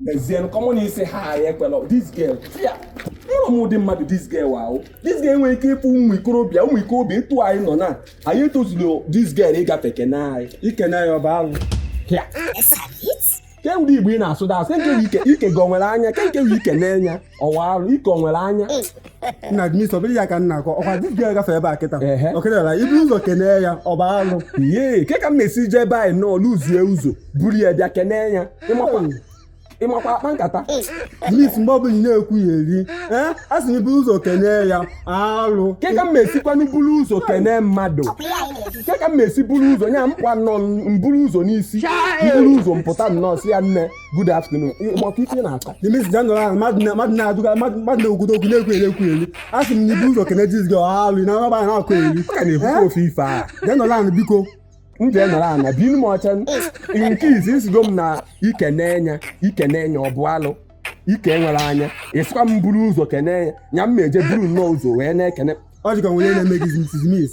n'ezie common ịsị hi ekwela this girl ya amarọ m ụdị mmadụ this girl ahụ this girl nwere ike ịfụ ụmụ ikorobịa ụmụ ikorobịa etu anyị nọ na anyị etozurọ this girl ịgafe kene anyị ikene anyị ọ bụ alụ ya ke ụdị igbo ị na-asụ dasụ nke nke ike gị ọ nwere anya ke nke ike n'enya ọ bụ alụ ike nwere anya nna dị n'isi ọ bụrọ ya ka m na-akọ ọkwa this girl gafe ebe a kịta ọkịtara ibu ụzọ kenee ya ọ bụ alụ ihe ke ka m na-esi jee ebe anyị nọọ lụzie ụzọ buru ya bịa kenee ya ịmakwa ịmakwa akpa nkata mis mgbe ọbụla ị na-ekwu ya eri ee a sị ibu ụzọ kenee ya alụ ke ka m esikwanụ buru ụzọ kenee mmadụ ke ka m esi buru ụzọ nya m pụa nnọọ m buru ụzọ n'isi m buru ụzọ m pụta nnọọ sị ya nne good afternoon maka ife na-akọ dimis jee nọrọ ana mmadụ na-adụga mmadụ na-ekwudo okwu na-ekwu eri ekwu eri a sị m na ibu ụzọ kene this girl ọ bụ alụ na ọba na-akọ eri ka na-ekwukwa ofu ife a jee nọrọ ana biko m jee nọrọ ana binu m ọcha nke izizi ị sịgo m na ikene anyị ikene anyị ọ bụ alụ ike nwere anya ị sịkwa m buru ụzọ kene ya nya m na-eje buru nnọọ ụzọ wee na-ekene ọ dịka nwere ife na-eme gị mrs miss